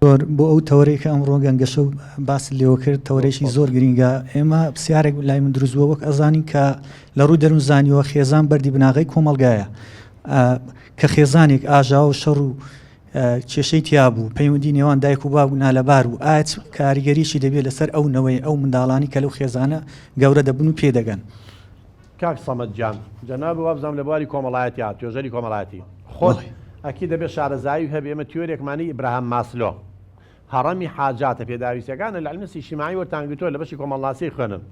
دکتۆر بۆ ئەو تەوەرەی کە ئەمڕۆ گەنگەشە و باس لێوە کرد تەوەرەشی زۆر گرینگە ئێمە پرسیارێک لای من دروستوە وەک ئەزانین کە لە ڕووی دەروون زانیوە خێزان بەردی بناغی کۆمەلگایە کە خێزانێک ئاژاوە و شەڕ و کێشەی تیا بوو پەیوەندی نێوان دایک و باو نالەبار و ئاچ کاریگەریشی دەبێت لەسەر ئەو نەوەی ئەو منداڵانی کە لەو خێزانە گەورە دەبن و پێدەگەن. کاک سەمەد گیان جەنابت وابزانم لە بواری کۆمەڵایەتی هات توێژەری کۆمەڵایەتی خۆت بەڵێ ئەکید دەبێت شارەزایی هەبێت ئێمە تیۆرێکمانی ئیبراهام ماسلۆ هەڕەمی حاجاتە پێداویستەکان العلم سیشیمایی وەرتان گرتووە لە بەشی کۆمەڵناسی خوێنن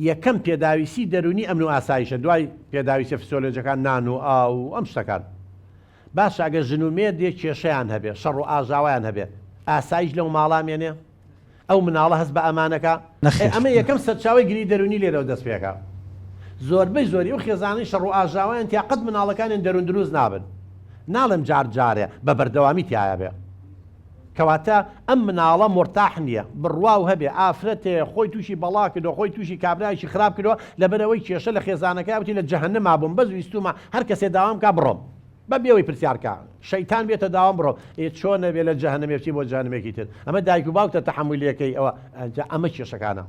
یەکەم پێداویستی دەرونی ئەمن و ئاسایشە دوای پێداویستە فسیۆلۆجەکان نان و ئاو و ئەم شتەکان باشە ئەگەر ژن و مێردێ کێشەیان هەبێ شەڕ و ئاژاوایان هەبێ ئاسایش لەو ماڵا مێنێ ئەو مناڵە هەست بە ئەمان ئەکا؟ ئێ ئەمە یەکەم سەرچاوەی گریی دەروونی لێرەوە دەست پێ ئەکا. زۆربەی زۆری ئەو خێزانەی شەڕ و ئاژاوەیان تیا قەت مناڵەکانیان دەروون دروست نابن. ناڵێم جار جارێ، بە بەردەوامی تیایا بێ. کەواتە ئەم مناڵە مورتاح نییە. بڕوا و هەبێ ئافرەتێ خۆی تووشی بەڵا کردووە، خۆی تووشی کابرایەکی خراپ کردووە، لەبەر ئەوەی کێشە لە خێزانەکەیا، وتی لە جەهەنەما بووم، بەس ویستوومە هەر کەسێ داوام کا بڕۆم. بە بێوەی پرسیار کە شەیتان بێتە داوام بڕۆ ئێ چۆن نەبێ لە جەهەنەمێکی بۆ جانمێکی تر ئەمە دایک و باوکتە تەحملیەکەی ئەوە ئەجا ئەمە کێشەکانە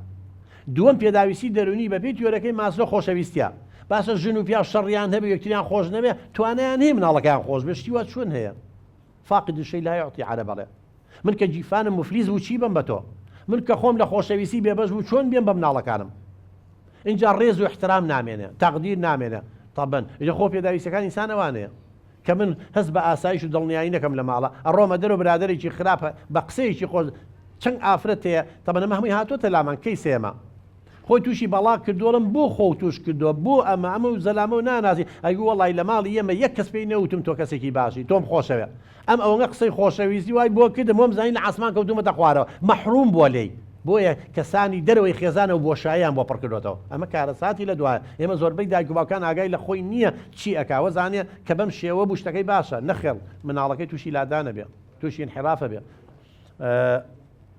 دووەم پێداویستی دەرونی بەپی تیۆرەکەی ماسلۆ خۆشەویستە باسە ژن و پیا شەڕیان هەبێ یەکتریان خۆش نەبێ توانیان هەیە مناڵەکەیان خۆش بێ شتی وا چۆن هەیە فاقد شەی لا یعطی عەرە بەڵێ من کە گیرفانم مفلیس بوو چی بم بە تۆ؟ من کە خۆم لە خۆشەویستی بێبەش بوو چۆن بێم بە مناڵەکانم؟ ئینجا ڕێز و ئیحترام نامێنێ، تەقدیر نامێنێ، تەبەن ئینجا خۆ پێداویستیەکانی ئینسان ئەوانەیە. کە من هەست بە ئاسایش و دڵنیایی نەکەم لە ماڵا، ئەڕۆمە دەرەوە برادەرێکی خراپ بە قسەیەکی خۆش چەند ئافرەت هەیە، تەبەن ئەمە هەمووی هاتۆتە لامان کەی سێمە خۆی تووشی بەڵا کردووە ئەڵێم بۆ خۆو تووش کردووە بۆ ئەمە ئەمە و زەلامە و ناناسی ئەگوو وەڵای لە ماڵی ئێمە یەک کەس پێی نەوتم تۆ کەسێکی باشی تۆم خۆشەوێ ئەم ئەوەنە قسەی خۆشەویستی وای بۆ کردم وەم زانی لە عاسمان کەوتومەتە خوارەوە مەحروم بوە لێی بۆیە کەسانی دەرەوەی خێزانە و بۆشاییان بۆ پڕ کردۆتەوە ئەمە کارەساتی لە دوایە ئێمە زۆربەی دایک و باوکان ئاگای لە خۆی نیە چی ئەکا وەزانێ کە بەم شێوە بوو شتەکەی باشە نەخێڵ مناڵەکەی توشی لادانە بێ توشی انحرافە بێ